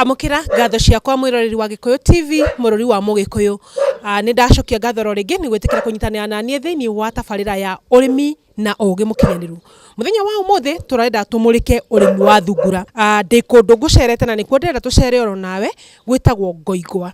Amũkĩra ngatho ciakwa mwĩroreri wa Gĩkũyũ TV, mũrũri wa Mũgĩkũyũ. Ah, Nĩ ndacokia ngatho ro rĩngĩ nĩ gwĩtĩkĩra kũnyitanĩra na niĩ thĩinĩ wa tabarĩra ya ũrĩmi na ũũgĩ mũkinyanĩru. Mũthenya wa ũmũthĩ tũrenda tũmũrĩke ũrĩmi wa thungura. Ah, Ndĩ kũndũ ngũcerete na nĩkuo ndĩrenda tũcere oro nawe gwĩtagwo Ngoigwa.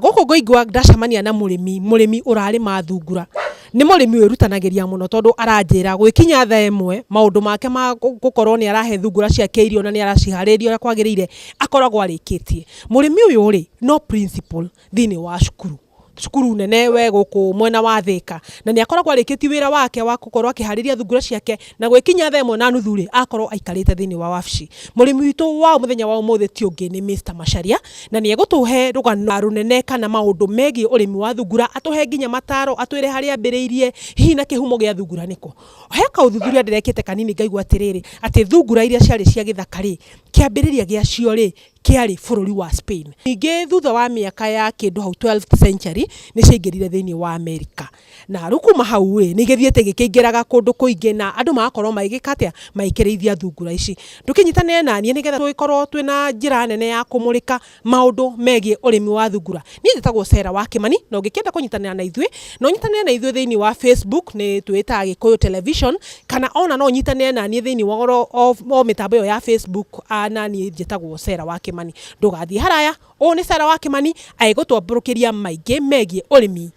Gũkũ ngũingũa ndacemania na mũrĩmi, mũrĩmi ũrarĩma thungura. Nĩ mũrĩmi wĩrutanagĩria mũno tondũ aranjĩra gũgĩkinya thaa ĩmwe maũndũ make ma gũkorwo nĩ arahe thungura ciake irio na nĩ araciharĩria ũrĩa kwagĩrĩire akoragwo arĩkĩtie. Mũrĩmi ũyũ rĩ, no principal thĩiniĩ wa cukuru, cukuru nene wĩ gũkũ mwena wa Thĩka, na nĩ akoragwo arĩkĩtie wĩra wake wa gũkorwo akĩharĩria thungura ciake. Na gwĩkinya thaa ĩmwe na nuthu-rĩ, akorwo aikarĩte thĩinĩ wa wabici. Mũrĩmi witũ wa mũthenya wa ũmũthĩ ti ũngĩ nĩ Mister Macharia, na nĩ egũtũhe rũgano rũnene kana maũndũ megiĩ ũrĩmi wa thungura, atũhe nginya mataro, atwĩre harĩa ambĩrĩirie, hihi na kĩhumo gĩa thungura nĩ kũ. He kaũthuthuria ndĩrekĩte kanini ngaigua atĩrĩrĩ, atĩ thungura iria ciarĩ cia gĩthaka-rĩ, kĩambĩrĩria gĩacio-rĩ, kĩarĩ bũrũri wa Spain. Ningĩ thutha wa mĩaka ya kĩndũ hau twelfth century, nĩ ciaingĩrire thĩinĩ wa Amerika. Na rĩu kuma hau-ĩ, nĩgĩthiĩte gĩkĩingĩraga kũndũ kũingĩ na andũ magakorwo magĩgĩka atĩa? Magĩkĩrĩithia thungura ici. Ndũkĩnyitanĩre na niĩ nĩgetha tũgĩkorwo twĩ na njĩra nene ya kũmũrĩka maũndũ megiĩ ũrĩmi wa thungura. Niĩ njĩtagwo Sarah wa Kĩmani, na ũngĩkĩenda kũnyitanĩra na ithuĩ, no ũnyitanĩre na ithuĩ thĩiniĩ wa Facebook, nĩ twĩĩtaga Gĩkũyũ Television, kana o na no ũnyitanĩre na niĩ thĩiniĩ wa ũhoro o mĩtambo ĩyo ya Facebook, na niĩ njĩtagwo Sarah wa Kĩmani. Ndũgathiĩ haraya, ũũ nĩ Sarah wa Kĩmani agĩgũtambũrũkĩria maingĩ megiĩ ũrĩmi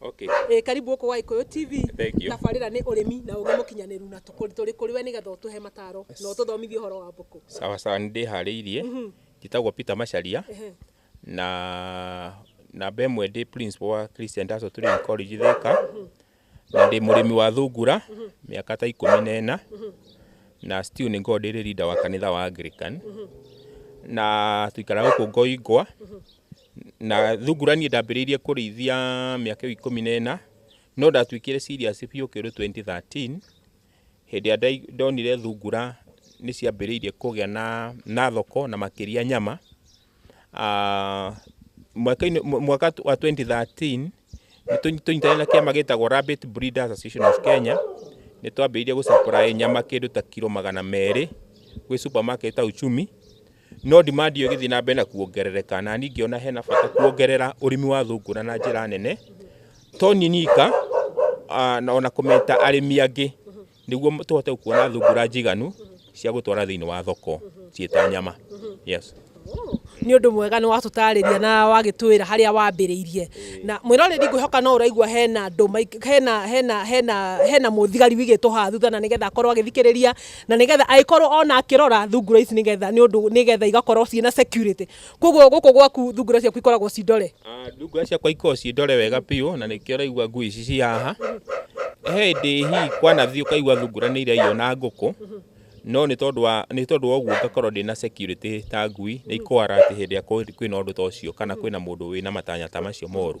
Okay. Ĩĩ karibu gũkũ gwa Gĩkũyũ TV. Thank you. Tabarĩra nĩ ũrĩmi na ũgĩ mũkinyanĩru na tũkũ- tũrĩ kũrĩ we nĩgetha ũtũhe mataro na ũtũthomithie ũhoro wa mbũkũ. Sawa sawa nĩ ndĩharĩirie. Njĩtagwo Peter Macharia. Na namba ĩmwe ndĩ principal wa Christian Industrial Training College Thika. Na ndĩ mũrĩmi wa thungura mĩaka ta ikũmi na ĩna. Na still nĩ ngoragwo ndĩ leader wa kanitha wa Anglican. Na tũikaraga gũkũ Ngoingwa. Na thungura niĩ ndambĩrĩirie kũrĩithia mĩaka ĩyo ikũmi na ĩna, no ndatuĩkire serious biũ kĩndũ 2013, hĩndĩ ĩrĩa ndonire thungura nĩ ciambĩrĩirie kũgĩa na na thoko na makĩria nyama. Mwaka-inĩ mwaka wa 2013, nĩ tũnyitanĩire na kĩama gĩtagwo Rabbit Breeders Association of Kenya, nĩ twambĩrĩirie gũ supply nyama kĩndũ ta kiro magana merĩ gwĩ supermarket ta Uchumi. No demand ĩyo ĩgĩthiĩ na mbere na kuongerereka, na niĩ ngĩona hena bata kuongerera ũrĩmi wa thungura na njĩra nene, to niĩ nyika ah, na ona kũmeta arĩmi angĩ nĩguo tũhote gũkuona thungura njiganu cia gũtwara thĩinĩ wa thoko ciĩ ta nyama. Yes. nä å ndå mwega nä watåtarä ria na wagätwä ra harä a wambä rä irie na mwä rorä ri ngwä hoka no å raigua hena andå maik- hena- hena- hena- hena må thigari wigä two haha thutha na nä getha akorwo agä thikä rä ria na nigetha agikorwo ona akirora thungura ici nigetha ni undu nigetha igakorwo ciina security koguo guku gwaku thungura ciaku ikoragwo ci ndore ah, thungura ciakwa ikoragwo ci ndore wega piu na nikio raigua ngui ici ci haha he ndi hihi kwanathi ukaigua thungura ni iraiywo na nguku no nä tondå wa nä tondå wa guo ngakorwo ndä na security ta ngui nä ikwara atä hä ndä ä a kwä na å ndå ta å cio kana kwä na må ndå wä na matanya ta macio moru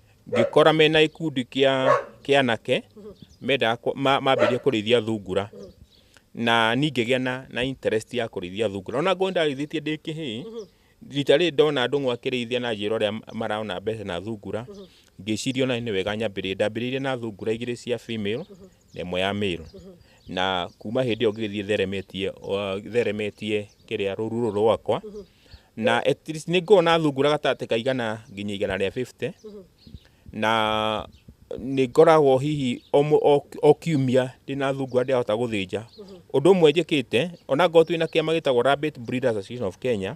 ngĩkora mena gĩkundi kĩa kĩa anake mendaga kũ- ma- mambĩrĩria kũrĩithia thungura na niĩ ngĩgĩa na, na interest ya kũrĩithia thungura ona ngorwo ndarĩithĩtie ndĩ kĩhĩĩ rita rĩrĩ ndona andũ amwe akĩrĩithia na njĩra ũrĩa marona mbeca na thungura ngĩciria ona nĩ wega nyambĩrĩrie ndambĩrĩirie na thungura igĩrĩ cia female na ĩmwe ya male na kuma hĩndĩ ĩyo ngĩgĩthiĩ theremetie o- theremetie kĩrĩa rũru rũrũ rwakwa na at least nĩ ngoragwo na thungura gatagatĩ ka igana nginya igana rĩa 50 na nĩ ngoragwo hihi o mũ- o- o kiumia ndĩ na thungura ndĩrahota gũthĩnja ũndũ ũmwe njĩkĩte ona ngorwo twĩ na kĩama gĩtagwo Rabbit Breeders Association of Kenya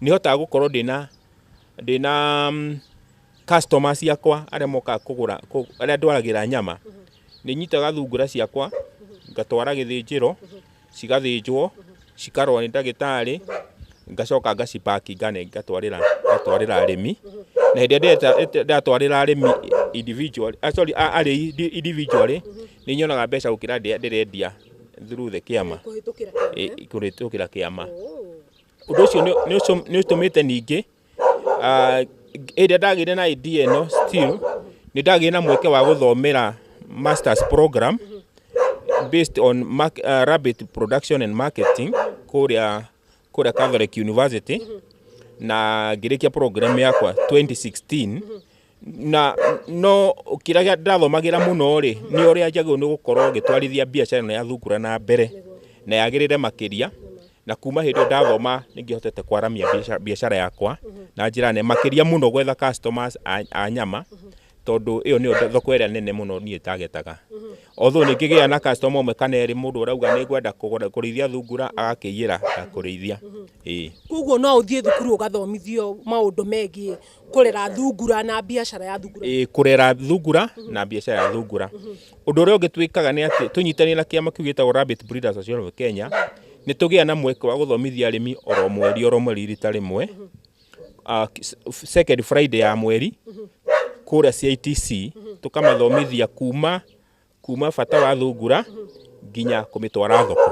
nĩ hotaga gũkorwo ndĩna ndĩna mm, customer ciakwa arĩa mokaga kũgũra kũ- arĩa ndwaragĩra nyama nĩ nyitaga thungura ciakwa ngatwara gĩthĩnjĩro cigathĩnjwo, cikarorwo nĩ ndagĩtarĩ, ngacoka ngaci pack ngane- ngatwarĩra ngatwarĩra arĩmi. Na hĩndĩ ĩrĩa ndĩreta- ĩte- ndatwarĩra arĩmi individually, ah, sorry, a- arĩi indi- individually, nĩ nyonaga mbeca gũkĩra ndĩa- ndĩrendia through the kĩama, kũhĩtũkĩra ĩ- kũrĩtũkĩra kĩama. Ũndũ ũcio nĩ- nĩ ũcũ- nĩ ũtũmĩte ningĩ Hĩndĩ ĩrĩa ndagĩire na idea ĩno still nĩ ndagĩire na mweke wa gũthomera masters program based on rabbit production and marketing kũrĩa kũrĩa Catholic University na ngĩrĩkia program yakwa 2016. na no kĩrĩa gĩa- ndĩrathomagĩra mũno rĩ nĩ ũrĩa njagĩrĩirwo nĩ gũkorwo ngĩtwarithia biacara ĩno ya thungura na mbere na yagĩrĩre makĩria na kuma hĩndĩ ĩyo ndathoma nĩ ngĩhotete kwaramia biaca- biacara yakwa na njĩra nene makĩria mũno gwetha customers a, a nyama tondũ ĩyo nĩyo thoko ĩrĩa nene mũno niĩ targetaga although nĩ ngĩgĩa na customer ũmwe kana erĩ mũndũ ũrauga nĩ ngwenda kũgũra- kũrĩithia thungura agakĩiyĩra ya kũrĩithia ĩĩ koguo no ũthiĩ thukuru ũgathomithio maũndũ megiĩ kũrera thungura na biacara ya thungura ĩ, kũrera thungura na biacara ya thungura ũndũ ũrĩa ũngĩ twĩkaga nĩ atĩ tũnyitanĩre na kĩama kĩu gĩtagwo Rabbit Breeders Association of Kenya nĩ tũgĩa na mweke wa gũthomithia arĩmi oro mweri oro mweri rita rĩmwe Ah, s- second Friday ya mweri kũrĩa CITC tũkamathomithia kuma kuma bata wa thungura nginya kũmĩtwara thoko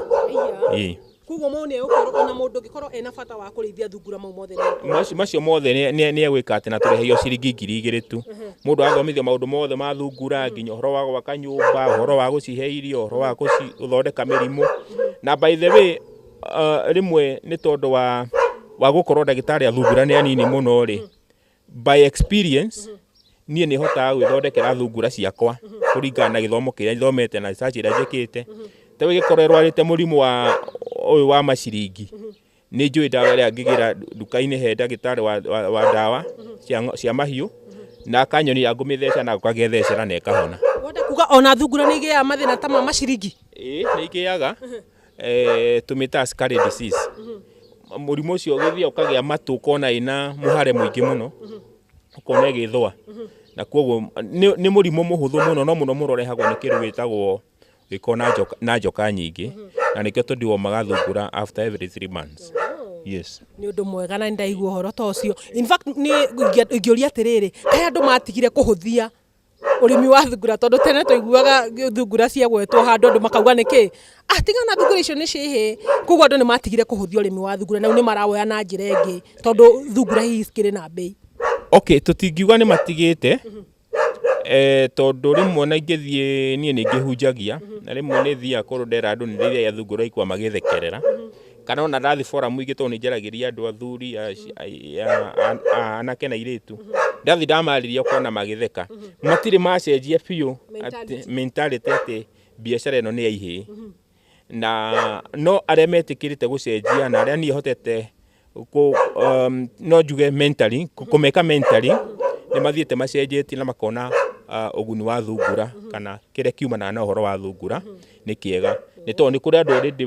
Ĩĩ. koguo mau nĩ egũkorwo ona mũndũ ũngĩkorwo ena bata wa kũrĩithia thungura mau mothe nĩ Macio- macio mothe nĩ- nĩ nĩ egwĩka atĩ na tũrĩhagio ciringi ngiri igĩrĩ tu mũndũ athomithio maũndũ mothe ma thungura nginya ũhoro wa gwaka nyũmba ũhoro wa gũcihe irio ũhoro wa gũci- gũthondeka mĩrimũ na by the way uh, rĩmwe nĩ tondũ wa wa gũkorwo ndagĩtarĩ a thungura nĩ anini mũno rĩ By experience, niĩ nĩ hotaga gwĩthondekera thungura ciakwa kũringana na gĩthomo kĩrĩa thomete na research ĩrĩa njĩkĩte. Ta rĩu ĩngĩkorwo ĩrwarĩte mũrimũ wa ũyũ wa maciringi, nĩ njũĩ ndawa ĩrĩa ngĩgĩra nduka-inĩ he ndagĩtarĩ wa, wa, wa ndawa cia, ng'o- cia mahiũ, na akanyonia ngũmĩtheca na agoka agethecera na ĩkahona. Wenda kuga ona thungura nĩ igĩaga mathĩna ta ma maciringi? Ĩĩ, nĩ igĩaga. eh, tũmĩtaga scarlet disease mũrimũ ũcio ũgĩthiaga ũkagĩa matũ ũkona ĩna mũhare mũingĩ mũno ũkona ĩgĩthũa na kwoguo nĩ nĩ mũrimũ mũhũthũ mũno no mũno mũno ũrehagwo nĩ kĩndũ gĩtagwo gĩko na njoka- na njoka nyingĩ na nĩkĩo tũndiwo magathungura after every three months yes nä å ndå mwega na nä ndaigua å horo ta å cio In fact, nĩ ingĩa- ingĩũria atä rä rä kaä andå matigire kå hå thia ũrĩmi wa thungura tondũ tene twaiguaga thungura ciagwetwo handũ andũ makauga nĩkĩ ah tiga na thungura icio nĩ cihĩ koguo andũ nĩ matigire kũhũthia ũrĩmi wa thungura na rĩu nĩ marawoya na njĩra ĩngĩ tondũ thungura hihi cikĩrĩ na mbei okay tũtingiuga nĩ matigĩte eh, tondũ rĩmwe na ingĩthiĩ niĩ nĩ ngĩhunjagia na rĩmwe nĩ thiaga kũndũ ndera andũ nĩ rĩrĩa thungura ikwa magĩthekerera kana ona ndathi forum ingĩ tondũ nĩ njaragĩria andũ athuri anake na irĩtu ndathi ndamarĩria kona magĩtheka matirĩ macenjia biũ mentality atĩ biacara ĩno nĩ ya ihĩĩ na no arĩa metĩkĩrĩte gũcenjia na arĩa niĩ hotete um, no njuge mentally kũmeka mentally nĩ mathiĩte macenjetie na makona Ah, ũguni wa thungura kana kĩrĩa kiumanaga na ũhoro wa thungura nĩ kĩega nĩ tondũ nĩ kũrĩ andũ already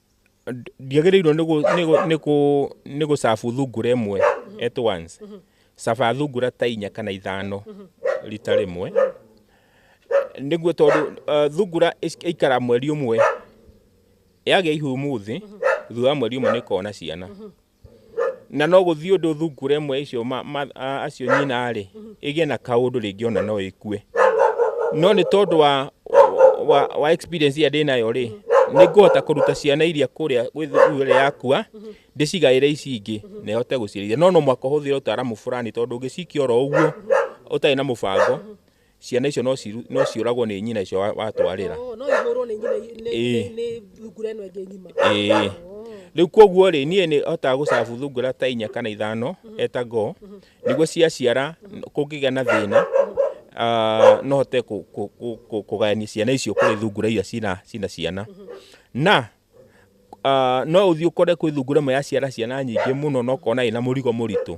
ndiagĩrĩirwo nĩ gũ- nĩ gũ- nĩ kũ- nĩ gũcabu thungura ĩmwe at once caba thungura ta inya kana ithano rita rĩmwe nĩguo tondũ eh, thungura ĩc- ĩikara mweri ũmwe yagĩa ihu ũmũthĩ thutha wa mweri ũmwe nĩ ĩkoragwo na ciana na no gũthiĩ ũndũ thungura ĩmwe icio acio nyina-rĩ ĩgĩe na kaũndũ rĩngĩ ona no ĩkue no nĩ tondũ wa, wa, wa experience ĩrĩa ndĩnayo rĩ nĩ ngũhota kũruta ciana iria kũrĩa ĩrĩa yakua ndĩcigaĩre ici ingĩ na ĩhote gũciarithia no no mwaka ũhũthĩre ũtaaramu fulani tondũ ũngĩcikia oro ũguo ũtarĩ na mũbango ciana icio no ciru- no ciũragwo nĩ nyina icio wa- watwarĩra Oh, no ihũrwo nĩ nyina nĩ- Ĩĩ. nĩ- nĩ thungura ĩno ĩngĩ ng'ima Ĩĩ. Oh. rĩu kwoguo rĩ niĩ nĩ hotaga gũcabu thungura ta inya kana ithano eta ngoo nĩguo ciaciara n- kũngĩgĩa na thĩna ah, no hote kũ- kũ- kũ- kũ- kũgayania ciana icio kũrĩ thungura iria cina cina ciana na ah, no uthi ukore kwĩ thungura ĩmwe yaciara ciana nyingĩ mũno na ũkona ĩna mũrigo mũritũ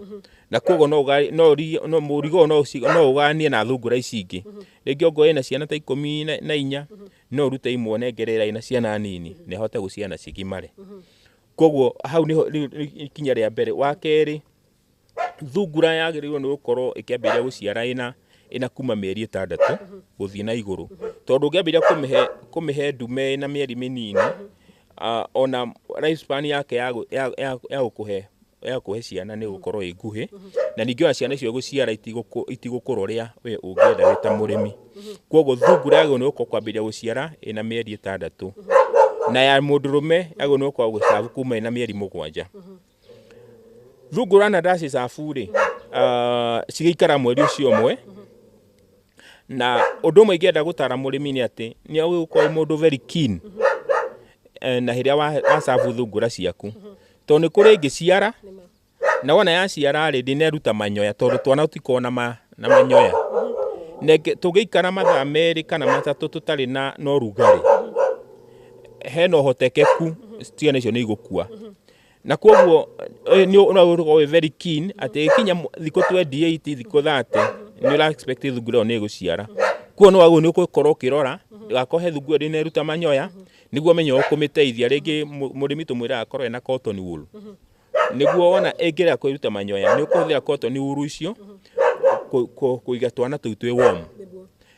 na koguo no ũga- no ũri- no- mũrigo ũyũ no ũci- no ũganie na thungura ici ingĩ rĩngĩ ongorwo ĩna ciana ta ikũmi na- na inya no ũrute imwe ũnengere ĩrĩa ĩna ciana nini na ĩhote gũciara na cigimare koguo hau nĩho rĩu- rĩu ikinya rĩa mbere wa kerĩ thungura yagĩrĩirwo nĩ gũkorwo ĩkĩambĩrĩria gũciara ĩna ĩna kuma mĩeri ĩtandatũ gũthiĩ na igũrũ tondũ ũngĩambĩrĩria kũmĩhe kũmĩhe ndume ĩna mĩeri mĩnini ah, ona life span yake ya gũ- ya- ya- ya gũkũhe ya gũkũhe ciana nĩ gũkorwo ĩ nguhĩ na ningĩ ona ciana icio gũciara itigũkũ- itigũkũra ũrĩa we ũngĩenda wĩ ta mũrĩmi kwoguo thungura yagĩrĩirwo nĩ gũkorwo kwambĩrĩria gũciara ĩna mĩeri ĩtandatũ na ya mũndũrũme yagĩrĩirwo nĩ gũkorwo gũcabu kuma ĩna mĩeri mũgwanja Thungura na ndacĩcabu-rĩ, cigĩikara mweri ũcio ũmwe, na ũndũ ũmwe ingĩenda gũtara mũrĩmi nĩ atĩ, nĩ ũgĩkorwo wĩ mũndũ very keen na rĩrĩa wacabu thungura ciaku. Tondũ nĩ kũrĩ ĩngĩciara, na wona yaciara-rĩ, ndĩneruta manyoya tondũ twana tũtikoragwo na manyoya. Tũngĩikara mathaa merĩ kana matatũ tũtarĩ na ũrugarĩ, hena ũhotekeku ciana icio nĩ igũkua. na koguo eh, nĩ ũrakorwo wĩ very keen atĩ ĩkinya mw- thikũ 28 thikũ 30 nĩ ũra expect thungura ĩyo nĩ ĩgũciara kuo no waguo nĩ ũgũkorwo ũkĩrora ndũgakohe thungura ĩrĩ neruta manyoya nĩguo menye ũkũmĩteithia rĩngĩ mũ- mũrĩmi tũmwĩra akorwo ena cotton wool nĩguo wona ĩngĩrega kwĩruta manyoya nĩ ũkũhũthĩra cotton wool icio kũ- kũ- kũiga twana tũu twĩ warm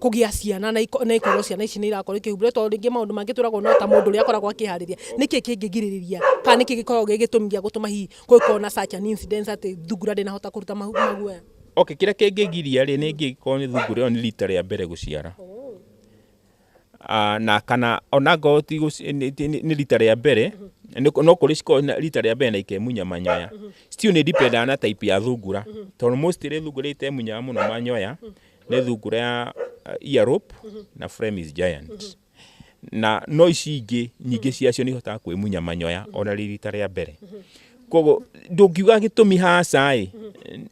kũgĩa ciana na ikorwo ciana ici nä irakorwo ikĩhumbä tondå rä ngä maå ndå mangä twä ragwo no ta må ndå å rä a akoragwo akä harä ria nä kä kä ngä girä rä ria kana nä kä gä koragwo gä gä tå mi gä a gå tå ma hihi kå gä korwo na such an incident atä thungura ndä nahota kå ruta maguoya Okay, kĩrĩa kĩngĩgiria rĩ nĩ ingĩkorwo nĩ thungura ĩyo nĩ rita rĩa mbere gũciara. Ah, na kana ona ngorwo ti gũci- nĩ- nĩ nĩ rita rĩa mbere nĩ- no kũrĩ cikoragwo na rita rĩa mbere na ikemunya manyoya still nĩ dependaga na type ya thungura tondũ mostly thungura iria itemunyaga mũno manyoya nĩ thungura ya uh, earlobe na Flemish giant na no ici ingĩ nyingĩ ciacio nĩ ihotaga kwĩmunya manyoya ona rĩ rita rĩa mbere koguo ndũngiuga gĩtũmi haca-ĩ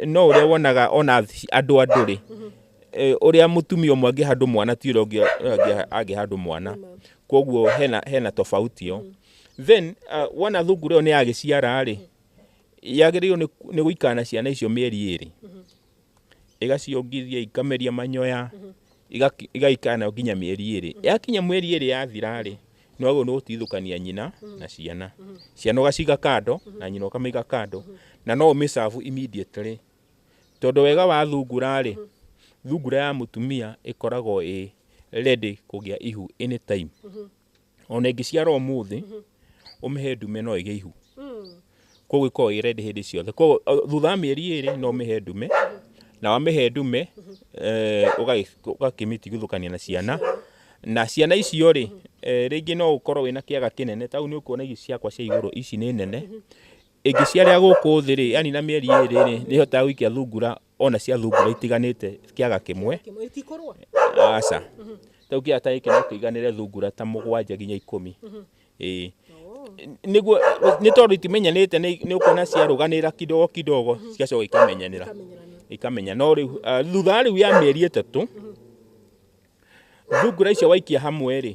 no ũrĩa wonaga ona ci- andũ andũ-rĩ eh, ũrĩa mũtumia ũmwe angĩhandwo mwana ti ũrĩa ũngĩ angĩ- angĩhandwo mwana koguo hena, hena tofauti ĩyo then uh, wona thungura ĩyo nĩ yagĩciara-rĩ yagĩrĩirwo nĩ- nĩ gũikara na ciana icio mĩeri ĩrĩ ĩgaciongithia ikameria manyoya igaikara nayo nginya mĩeri ĩrĩ yakinya mweri ĩrĩ yathira rĩ nĩ wagĩrĩirwo nĩ gũtigithũkania nyina na ciana ciana ũgaciga kando na nyina ũkamĩiga kando na no ũmĩcabu immediately tondũ wega wa thungura rĩ thungura ya mũtumia ĩkoragwo ĩ ready kũgĩa ihu anytime ona ĩngĩciara ũmũthĩ ũmĩhe ndume no ĩgĩe ihu koguo ikoragwo ĩ ready hĩndĩ ciothe koguo o, thutha wa mĩeri ĩrĩ no ũmĩhe ndume na wamĩhe ndume eh, ũgagĩ- ũgakĩmĩtigithũkania na ciana na ciana icio rĩ eh, rĩngĩ no ũkorwo wĩna kĩaga kĩnene tau nĩ ũkuona ici ciakwa cia igũrũ ici nĩ nene ĩngĩciarĩa gũkũ thĩ rĩ yani na mĩeri ĩrĩ rĩ nĩ ĩhotaga gũikia thungura ona cia thungura itiganĩte kĩaga kĩmwe Kĩmwe itikũrũa. aca tau kĩaga ta gĩkĩ no kĩiganĩre thungura ta mũgwanja nginya ikũmi ĩĩ nĩguo nĩ tondũ itimenyanĩte nĩ nĩ ũkuona ciarũganĩra kidogo kidogo cigacoka ikamenyanĩra Ikamenyerania. ikamenya no rĩu ah, thutha wa rĩu ya mĩeri ĩtatũ thungura icio waikia hamwe rĩ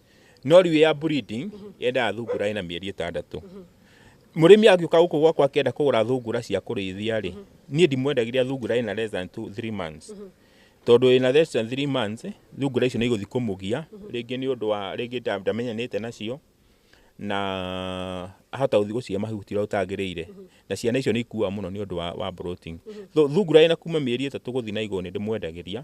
No rĩu ya breeding yendaga thungura ĩna mĩeri ĩtandatũ. Mũrĩmi angĩũka gũkũ gwakwa akĩenda kũgũra thungura cia kũrĩithia rĩ, niĩ ndimwendagĩria thungura ĩna less than two, three months. Tondũ ĩna less than three months, thungura icio nĩ igũthiĩ kũmũgia, rĩngĩ nĩ ũndũ wa, rĩngĩ ndamenyanĩte nacio, na ahota gũthiĩ gũcihe mahuti ũrĩa gũtagĩrĩire. Na ciana icio nĩ ikuaga mũno nĩ ũndũ wa wa bloating. Thungura ĩna kuma mĩeri ĩtatũ gũthiĩ na igũrũ nĩ ndĩmwendagĩria,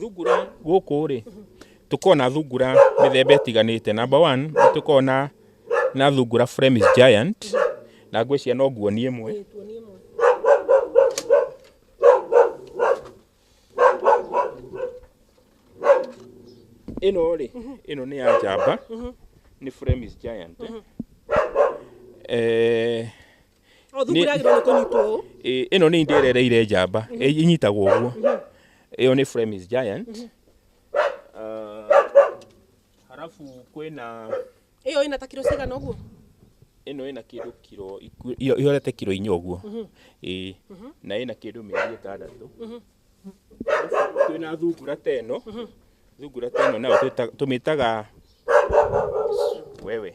thungura gũkũ rĩ tũkoragwo na thungura mĩthemba ĩtiganĩte number one nĩ tũkoragwo na na thungura Flemish giant na ngwĩciria no nguonie ĩmwe ĩno rĩ ĩno nĩ ya njamba nĩ Flemish giant eh O thungura yagĩrĩirwo nĩ kũnyitwo ũũ. Ĩ- ĩno nĩ inda ĩrereire njamba ĩ- inyitagwo ũguo ĩyo nĩ Flemish giant Ah, harabu kwĩna Ĩyo ĩna ta kiro cigana ũguo. ĩno ĩna kĩndũ kiro iku- iyo- ihorete kiro inya ũguo Ĩ, na ĩna kĩndũ mĩeri ĩtandatũ Harabu kwĩna thungura ta ĩno thungura ta ĩno nayo twĩta- tũmĩtaga wewe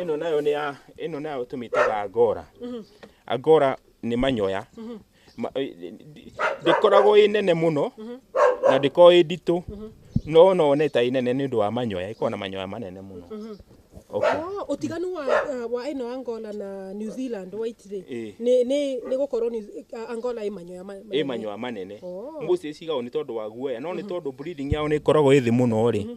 ĩno nayo nĩ ya ĩno nayo tũmĩtaga angora angora nĩ manyoya Ma- ĩ- ĩ- ndĩkoragwo ĩ nene mũno na ndĩkoragwo ĩ nditũ no no one ta ĩ nene nĩ ũndũ wa manyoya ĩkoragwo na manyoya manene mũno okay. Oh, utiganu wa uh, wa ino Angola na New Zealand waitire Eh. ni ni ni gukorwo ni uh, Angola i manyoya ma- ä manene. manyoa manene Oh. mbũcĩ cigagwo nĩ tondũ wa guoya no nĩ tondũ breeding yao nĩ ĩkoragwo ĩthĩ mũno rĩ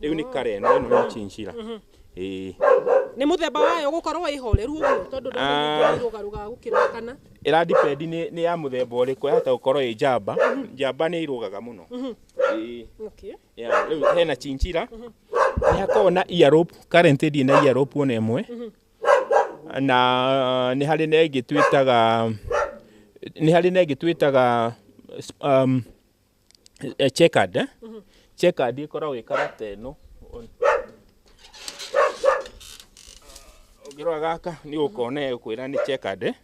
Rĩu nĩ karen na ĩno nĩ chinchilla. Ĩĩ. nĩ mũthemba wayo gũkorwo ĩ horeru ũguo tondũ Ah. ndĩrũgarũga gũkĩra kana Ĩra depend nĩ nĩ ya mũthemba ũrĩkũ yahota gũkorwo ĩ njamba. Njamba nĩ irũgaga mũno. Ĩĩ. okay. Yeah, rĩu hena chinchilla nĩ hakoragwo na ear rope current ndĩ na ear rope ona ĩmwe na nĩ harĩ na ĩngĩ twĩtaga nĩ harĩ na ĩngĩ twĩtaga um, eh, checkered eh? checkered ikoragwo ĩ karata ĩno ũngĩrora gaka nĩ ũkona kwĩra nĩ checkered eh?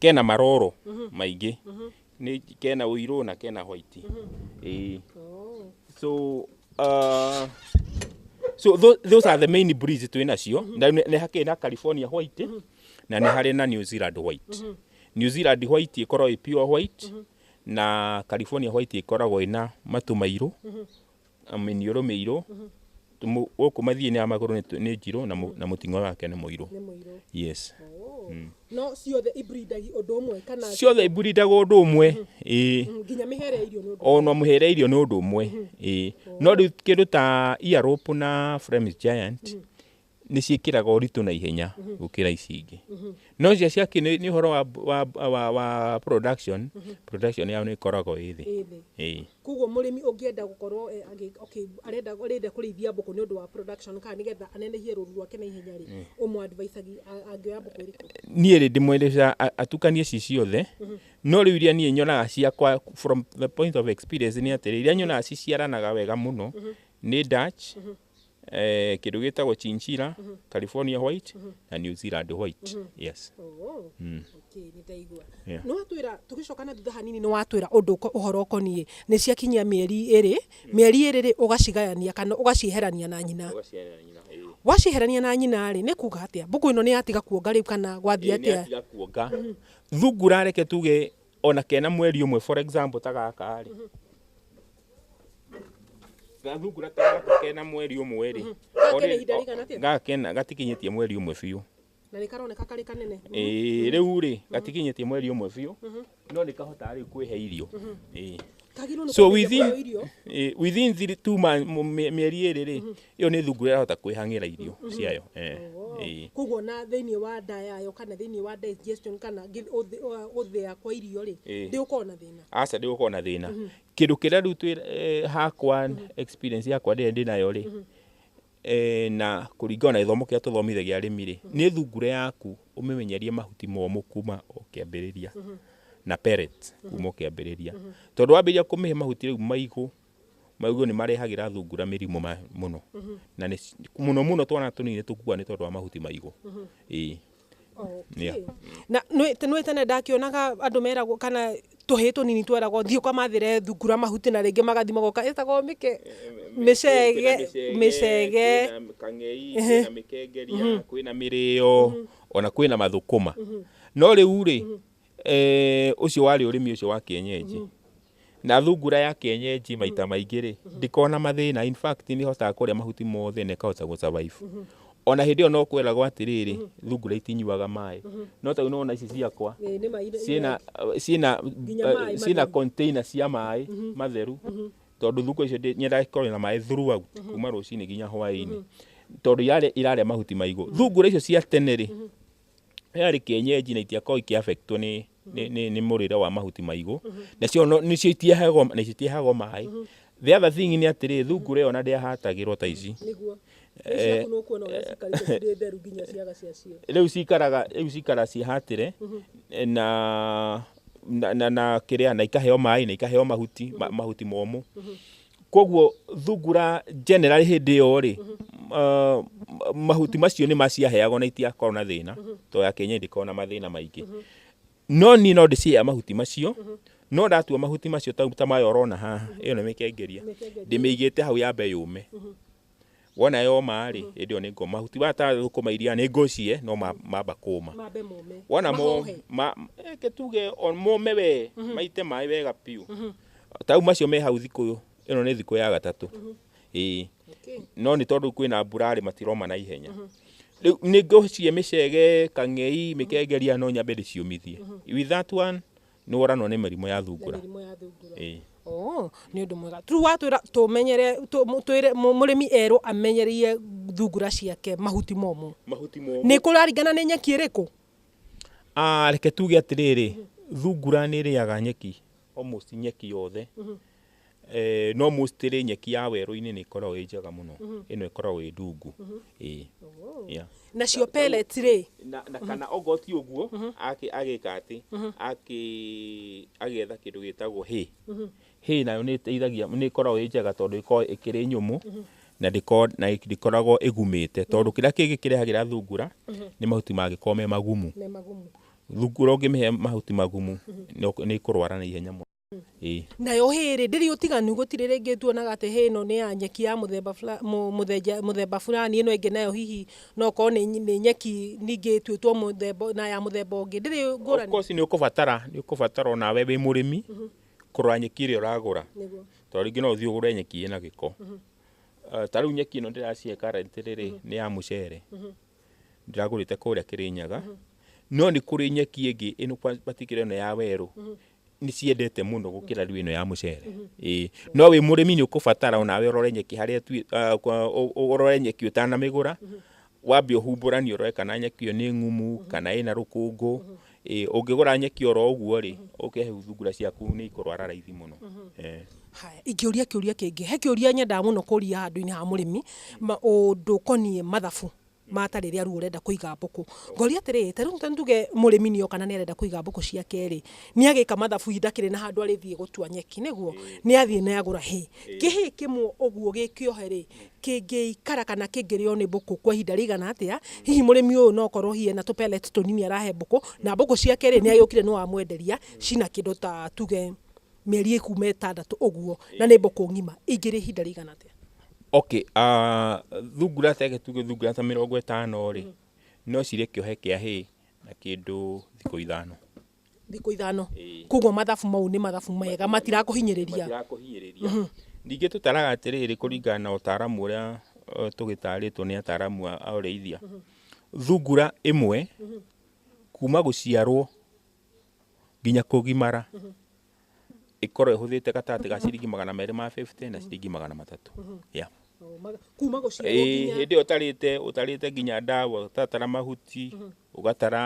kena maroro maingĩ nĩ kena ũirũ na kena white ĩĩ so uh, so tho- those are the main breeds twĩ nacio na nĩ nĩ hakĩrĩ na california white na nĩ harĩ na new zealand white new zealand white ĩkoragwo ĩ pure white Na California white ĩkoragwo ĩna matũ mairũ, mĩniũrũ mĩirũ, tũmũ- gũkũ mathiĩ-inĩ ya magũrũ nĩ tũ- nĩ njirũ na mũ- na mũting'o wake nĩ mũirũ. nĩ mũirũ Yes. Oh. no ciothe ibrindagia ũndũ ũmwe kana Ciothe iburidaga ũndũ ũmwe. Ĩĩ. Mm, nginya mĩhere ya irio nĩ ũndũ ona mũhere irio nĩ ũndũ ũmwe ĩĩ no rĩu kĩndũ ta earope na Flemish giant nĩ ciĩkĩraga ũritũ na ihenya mhm. gũkĩra ici ingĩ mhm. no cia ciaki nĩ ũhoro wa, wa, wa, wa production mhm. production yao nĩ ĩkoragwo ĩ thĩ koguo mũrĩmi ũngĩenda gũkorwo eh, arenda arenda kũrĩithia mbũkũ nĩ ũndũ wa production kana nĩgetha anenehie rũru rwake na ihenya rĩ mm. ũmũ advice angĩoya mbũkũ ĩrĩkũ niĩ rĩ ndĩmwendesha atukanie ici ciothe no rĩu iria niĩ nyonaga ciakwa from the point of experience nĩ atĩrĩ iria nyonaga ciciaranaga wega mũno nĩ Dutch eh, kindu gitagwo chinchilla california white na new zealand white yes Oh, Mm. okay, nĩ ndaigua. Yeah. nĩ watwĩra tũgĩcoka na thutha hanini nĩ watwĩra ũndũ ũko- ũhoro ũkoniĩ nĩ ciakinyia mĩeri ĩrĩ mĩeri ĩrĩ rĩ ũgacigayania kana ũgacieherania na nyina Ũgaciarĩra nyina, eh. wacieherania na nyina rĩ nĩ kuga atĩa mbũkũ ĩno nĩ yatiga kuonga rĩu kana gwathiĩ Ĩĩ, nĩ atĩa atiga kuonga thungura reke tuge ona kena mweri ũmwe for example ta gaka rĩ gathungura ta gaka kena mweri ũmwe rĩ mhm. gaka kena ihinda rĩigana atĩa gaka kena gatikinyĩtie mweri ũmwe biũ na nĩ karoneka karĩ kanene ĩĩ rĩu rĩ mhm. gatikinyĩtie mweri ũmwe biũ mhm. no nĩ kahotaga rĩu kwĩhe irio ĩĩ so within eh, within three two months mieri iri ri iyo ni thungu irahota kwihangira irio ciayo eh koguo na thiini wa nda yayo kana thiini wa digestion kana uthia kwa irio ri ndi ukorwo na thina aca ndi ukorwo na thina Kĩndũ kĩrĩa rĩu twĩ eh, hakwa experience yakwa ndĩrĩa ndĩnayo rĩ eh, na kũringana na gĩthomo kĩrĩa tũthomire gĩa arĩmi rĩ nĩ thungura yaku ũmĩmenyerie mahuti momũ kuma o kĩambĩrĩria na pellets kuma o kĩambĩrĩria tondũ wambĩrĩria kũmĩhe mahuti rĩu maigũ maigũ nĩ marehagĩra thungura mĩrimũ ma- mũno na nĩ ci- mũno mũno twana tũnini nĩ tũkuaga nĩ tondũ wa mahuti maigũ ĩĩ Okay. Yeah. na nä nä tene ndakionaga andå meragwo kana tå hä tå nini tweragwo thiä kamathä re thungura mahuti na rä ngä magathi magoka ä tagwo mä ke mä cege mä cege kwĩna kang'ei kwĩna mĩkengeria kwĩna mĩrĩo ona kwĩna mathũkũma no rĩu rĩ eh, ũcio warĩ ũrĩmi ũcio wa kĩenyenji Na thungura ya kienyeji maita maingĩ rĩ, ndikona mathĩna. In fact, nĩ hotaga kũrĩa mahuti mothe na ĩkahota gũ survive. O na hĩndĩ ĩyo no kwĩragwo atĩrĩrĩ, thungura itinyuaga maĩ. No ta rĩu nĩ wona ici ciakwa, Ĩĩ, nĩ ma ire- ciĩna ciĩna Nginya maĩ matheru. ciĩna container cia maĩ matheru tondũ thungura icio ndĩ- nyendaga ikorwo na maĩ throughout kuma rũcinĩ nginya hwaĩ-inĩ tondũ irarĩa irarĩa mahuti maigũ thungura icio cia tene rĩ yarĩ kĩenyenji na itiakoragwo ikĩ affectwo nĩ nĩ nĩ nĩ mũrĩre wa mahuti maigũ nacio no- nĩcio itiahagwo na icio itiahagwo maĩ the other thing nĩ atĩrĩ thungura ĩyo ona ndĩahatagĩrwo ta ici nĩguo Eh, nĩciaku nũkuona ũrĩa cikarĩte cirĩ theru nginya ciaga ciacio rĩu cikaraga rĩu cikara cihatĩre na na na, na kĩrĩa na ikaheo maĩ na ikaheo mahuti ma, mahuti momũ koguo thungura generally hĩndĩ ĩyo rĩ uh, mahuti macio nĩ maciaheagwo na itiakorwo na thĩna to ya kenya ndĩkorwo na mathĩna maingĩ no niĩ no ndĩcihea mahuti macio no ndatua mahuti macio ta ta maya ũrona haha ĩyo nĩ mĩkengeria ndĩmĩigĩte hau yambe yũme wona yoma-rĩ mm-hmm. ĩndĩ ĩyo nĩ ngoma mahuti wata thũkũma iria nĩ ngũcie no mamba kũma wona eh, tuge mũme we mm-hmm. maite maĩ wega biũ mm-hmm. tau macio me hau thikũ ĩno nĩ thikũ ya gatatũ ĩĩ no nĩ tondũ kwĩna mbura rĩ matiroma na ihenya rĩu nĩ ngũcie mĩcege kang'ei mĩkengeria no nyambe ndĩciũmithie with that one Nĩ woranwo nĩ mĩrimũ ya thungura. Mĩrimũ ya thungura. Ĩĩ. Oo, nĩ ũndũ mwega. Rĩu watwĩra tũmenyere, twĩre mũrĩmi erwo amenyereire thungura ciake mahuti momũ. Mahuti momũ. Nĩ kũraringana nĩ nyeki ĩrĩkũ? Ah, reke tuge atĩrĩrĩ, thungura nĩ ĩrĩaga nyeki, almost nyeki yothe. Eh, no mostly nyeki ya werũ-inĩ nĩ ĩkoragwo ĩ njega mũno ĩno ĩkoragwo ĩ ndungu Ĩĩ. Yeah. nacio pellets rĩ na, na kana okorwo ti ũguo akĩ- agĩka atĩ akĩ- agĩetha kĩndũ gĩtagwo hay hay nayo nĩ ĩteithagia nĩ ĩkoragwo ĩ njega tondũ ĩkoragwo ĩkĩrĩ nyũmũ na ndĩko- na ndĩkoragwo ĩgumĩte tondũ kĩrĩa kĩngĩ kĩrehagĩra thungura nĩ mahuti mangĩkorwo me magumu me magumu thungura ũngĩmĩhe mahuti magumu nĩ ũk- nĩ ĩkũrwara na ihenya mũno Ĩĩ. Nayo hay rĩ, ndĩrĩ ũtiganu gũtirĩ rĩngĩ tuonaga atĩ hay ĩno nĩ ya nyeki ya mũthemba fula- mũ- mũthenja- mũthemba fulani, ĩno ĩngĩ nayo hihi no korwo nĩ nyi- nĩ nyeki ningĩ ĩtuĩtwo mũthemba ũ- na ya mũthemba ũngĩ. Ndĩrĩ Of ngũrani. course nĩ ũkũbatara nĩ ũkũbatara o nawe wĩ mũrĩmi kũrora nyeki ĩrĩa ũragũra Nĩguo. tondũ rĩngĩ no ũthiĩ ũgũre nyeki ĩna gĩko Eh, ta rĩu nyeki ĩno ndĩracihe karati rĩrĩ nĩ ya mũcere ndĩragũrĩte kũrĩa kĩrĩnyaga no nĩ kũrĩ nyeki ĩngĩ ĩno kwa- particular ĩno ya werũ nĩ ciendete mũno gũkĩra rĩu ĩno ya mũcere ĩĩ no wĩ mũrĩmi nĩ ũkũbatara onawe ũrore nyeki harĩa ĩtuĩ- ah, kwa- ũ- ũ- ũrore nyeki ũtanamĩgũra wambe ũhumbũranie ũrore kana nyeki ĩyo nĩ ngumu kana ĩna rũkũngũ ĩĩ ũngĩgũra nyeki oro ũguo rĩ ũke thungura ciaku nĩ ikũrwara raithi mũno Eh. Haya, ingĩũria kĩũria kĩngĩ he kĩũria nyendaga mũno kũria handũ-inĩ ha mũrĩmi ma- ũndũ ũkoniĩ mathabu mata rĩrĩa rĩu ũrenda kũiga mbũkũ. Ngoria atĩrĩ, ta rĩu ta nduge mũrĩmi nĩ oka na nĩ arenda kũiga mbũkũ ciake rĩ, nĩ agĩka mathabu hihi ndakĩrĩ na handũ arĩthiĩ gũtua nyeki, nĩguo? Nĩ athiĩ nĩ agũra hay. Kĩ hay kĩmwe ũguo gĩ kĩohe rĩ, kĩngĩikara kana kĩngĩrĩo nĩ mbũkũ kwa ihinda rĩigana atĩa? Hihi mũrĩmi ũyũ no okorwo hihi ena tũ pellet tũnini arahe mbũkũ, na mbũkũ ciake rĩ, nĩ agĩũkire nĩ wamwenderia cina kĩndũ ta tuge mĩeri ĩkuuma ĩtandatũ ũguo na nĩ mbũkũ ng'ima ingĩrĩ ihinda rĩigana atĩa? Okay, ah, thungura teke tuge thungura ta mĩrongo ĩtano rĩ no cirĩ kĩohe kĩa hay na kĩndũ thikũ ithano thikũ ithano Ĩĩ. koguo mathabu mau nĩ mathabu mega matirakũhinyĩrĩria matirakũhinyĩrĩria ningĩ tũtaraga atĩrĩrĩ kũringana na ũtaaramu ũrĩa eh, tũgĩtarĩtwo nĩ ataaramu a a ũrĩithia thungura ĩmwe kuma gũciarwo nginya kũgimara ĩkorwo ĩhũthĩte gatagatĩ ga ciringi magana merĩ ma 50 na ciringi magana matatũ yeah. Oo, maga- kuma gũciarwo Ĩĩ, nginya hĩndĩ ĩyo ũtarĩte ũtarĩte nginya ndawa ũtatara mahuti ũgatara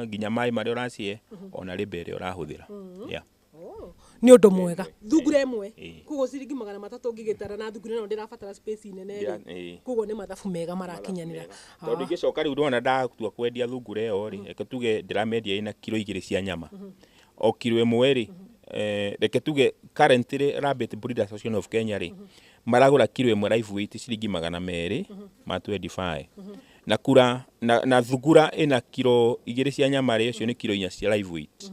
nginya maĩ marĩa ũracihe ona rĩmba ĩrĩa ũrahũthĩra yeah. Oo, nĩ ũndũ mwega thungura ĩmwe Ĩĩ. koguo ciringi magana matatũ ngĩgĩtara na thungura ĩno ndĩrabatara space nene Ndĩra- rĩ ĩĩ. koguo nĩ mathabu mega marakinyanĩra tondå ingä coka rä u ndona ndatua kwendia thungura ä yo rä reke tuge ndäramendia ä na kiro igä rä cia nyama o kiro ä mwe rä reke tuge current rä Rabbit Breed Association of Kenya rä maragå ra kiro ä mwe live weight ciringi magana merä ma 25 na kura na, na thungura ä na kiro igä rä cia nyama rä cio nä kiro inya cia live weight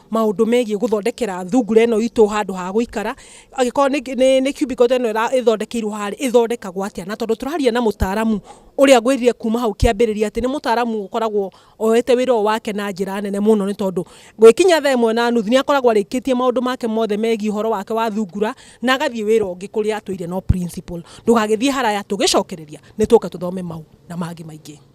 maundu megie guthondekera thungura ino itu handu ha guikara agikorwo ni ni ni cubicle ino ira ithondekeirwo hari ithondekagwo atia na tondu turaria na mutaramu uria ngwirire kuma hau kiambiriria ati ni mutaramu ukoragwo oyete wira uyu wake na njira nene muno ni tondu gwikinya thaa imwe na nuthu ni akoragwo arikitie maundu make mothe megie uhoro wake wa thungura na agathie wira ungi kuria atwire no principal ndugagithie haraya tugicokereria ni tuke tuthome mau na mangi maingi